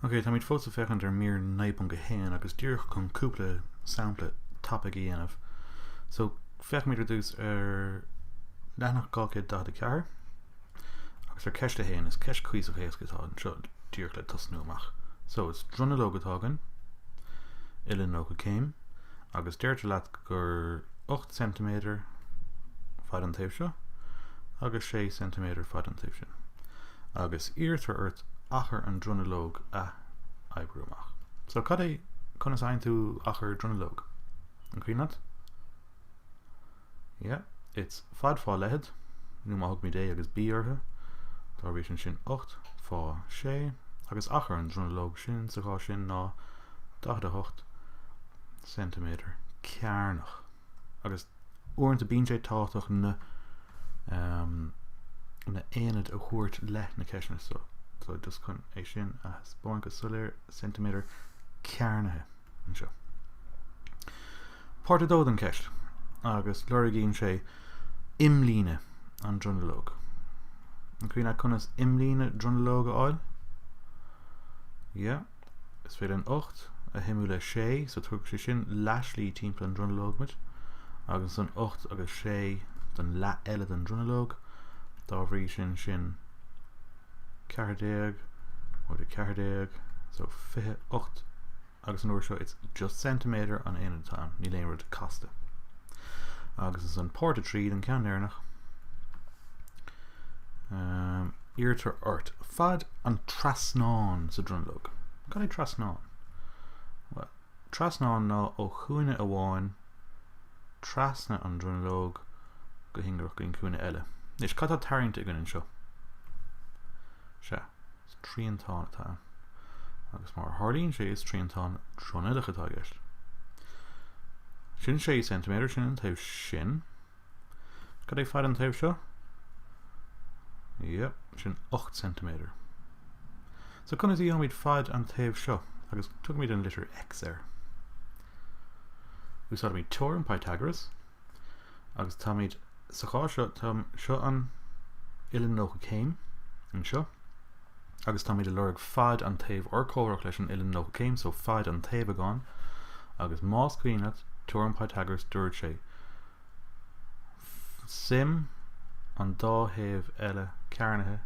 Ok, táimid fós ag féachaint ar mír 9.1 agus díreach chun cúpla sampla topic a dhéanamh. So, féachaimid ar dtús ar leathanach 244. Agus ar Cheist a haon, is ceist cuíosach éasca atá anseo díreach le tosnú amach. So, is dronuilleog atá againn, uilleann 90 céim, agus deirtear leat gur 8 ceintiméadar fad an taobh seo agus 6 ceintiméadar fad an taobh sin. Agus iarrtar ort achar an dronuilleog a oibriú amach. So, cad é, conas a fhaigheann tú achar dronuilleog? An cuimhin leat? Yeah, it's fad fá leithead, nó má thugaimid a agus b orthu, dá bhrí sin sin 8 fá 6, agus achar an dronuilleog sin sa chás sin ná 48 ceintiméadar cearnach. Agus uaireanta bíonn sé tábhachtach na, um, na aonaid a thabhairt le na ceisteanna seo, so just chun é sin a thaispeáint go soiléir, ceintiméadar cearnaithe. anseo. Páirt 2 den cheist, agus lorgaíonn sé imlíne an dronuilleog. An cuimhin leat conas imlíne dronuilleog a fháil? Yeah. Is féidir an 8 a shuimiú le 6, so tugann sé sin leathslí timpeall an dronuilleog muid, agus ansan 8 agus 6 don leath eile den dronuilleog, dá bhrí sin sin 14 móide 14 so 28 agus an uair seo it's just centimetre an aonad atá ann, níl aon rud casta agus ins an páirt a trí den ceann deireanach um, iarrtar ort fad an trasnán sa dronuilleog cad é trasnán? Well, trasnán ná ó chúinne amháin trasna an dronuilleog go hingearach go dtí an cúinne eile. Anois, cad atá tarraingte againn anseo? Sea, is triantán atá ann. Agus mar tharlaíonn sé is triantán dronuilleach atá i gceist. Sin 6 cm sin an taobh sin. Cad é fad an taobh seo? Yep, sin 8 cm. So conas a dhéanaimid fad an taobh seo agus tugaimid an litir X air. Úsáidimid teoirim Pythagoras agus táimid sa chás seo tá seo an uilleann 90 céim anseo agus táimid ag lorg fad an taobh urchomhaireach leis an uilleann 90 céim so fad an taobhagán agus más cuimhin leat teoirim Pythagoras dúirt sé suim an dá thaobh eile cearnaithe,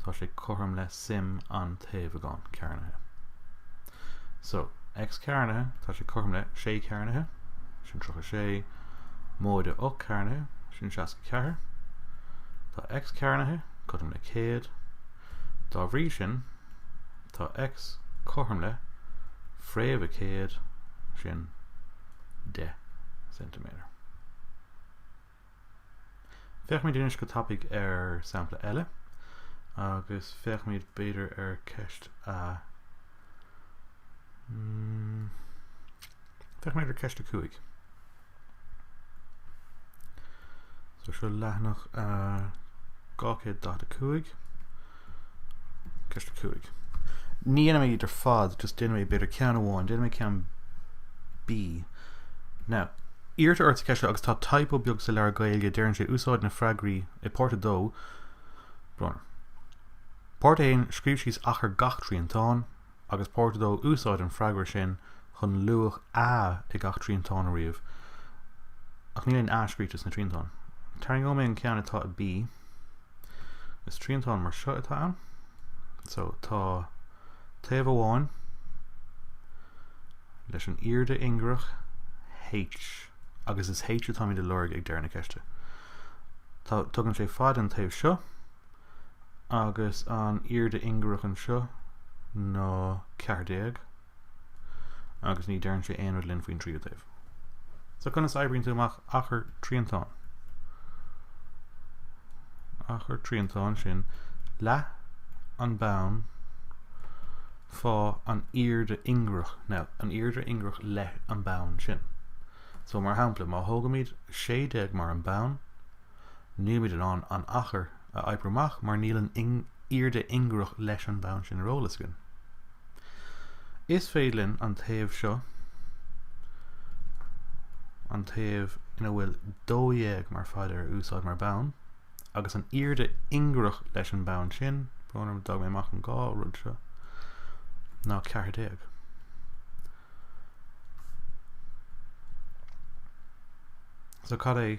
tá sé cothrom le suim an taobhagáin cearnaithe. So, x cearnaithe, tá sé cothrom le 6 cearnaithe, sin 36, móide 8 cearnaithe, sin 64. Tá x cearnaithe cothrom le 100. Dá bhrí sin, tá x cothrom le fréamh a 100, sin 10 cm. Féachfaimid anois go tapaidh ar sampla eile agus féachfaimid b'fhéidir ar ceist a mm, féachfaimid ar ceist a cúig. So seo leathanach a 245 Ceist 5. Ní dhéanfaidh mé iad ar fad, just déanfaidh mé b'fhéidir ceann amháin, déanfaidh mé ceann B. Now, iarrtar ort sa ceist seo agus tá typo beag sa leabhar Gaeilge, deireann sé úsáid na freagraí i páirt 2, brón orm, Páirt 1, scríobh síos achar gach triantáin, agus páirt 2, úsáid an freagra sin chun luach A i gach triantán a ríomh, ach níl aon A scríte sna triantáin. Tarraingeoidh mé an ceann atá i B. Is triantán mar seo atá ann. So tá taobh amháin leis an airde ingearach H agus is H atáimid ag lorg ag deireadh na ceiste. Tá tugann sé fad an taobh seo agus an airde ingearach anseo ná ceathair déag agus ní deireann sé aon rud linn faoin tríú taobh. So conas oibríonn tú amach achar triantán? Achar triantán sin leath an bonn fá an airde ingearach. Now, an airde ingearach leis an bonn sin. So mar shampla, má thógaimid 16 mar an bonn, Nílimid in ann an achar a oibriú amach mar níl an airde ingearach leis an bhonn sin ar eolas againn. Is féidir linn an taobh seo, an taobh ina bhfuil 12 mar fad air a úsáid mar bonn, agus an airde ingearach leis an bonn sin, brón orm, d'fhág mé amach an dá rud seo, ná 14. So cad é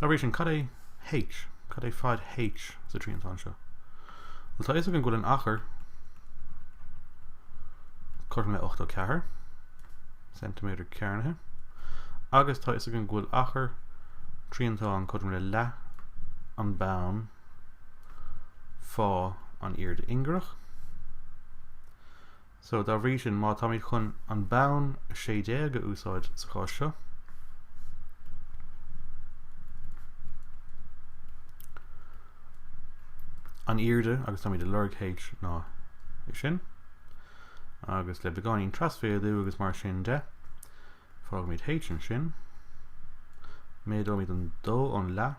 Dá bhrí sin, cad é H? Cad é fad H sa triantán seo? Bhuel, tá a fhios againn go bhfuil an achar cothrom le 84 cm cearnaithe agus tá a fhios againn go bhfuil achar triantán cothrom le leath an bonn fá an airde ingearach. So, dá bhrí sin, má táimid chun an bonn 16 a úsáid sa chás seo, an airde agus táimid ag lorg H ná é sin, agus le beagáinín trasmhéadú agus mar sin de, fágfaimid H ansin, méadóimid an dó ón leath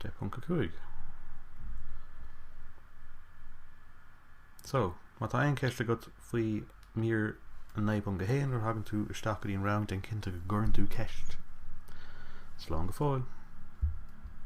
10.5 So, má tá aon cheist agat faoi mír 9.1 nuair a thagann tú isteach go dtí an rang déan cinnte go gcuireann tú ceist. Slán go fóill!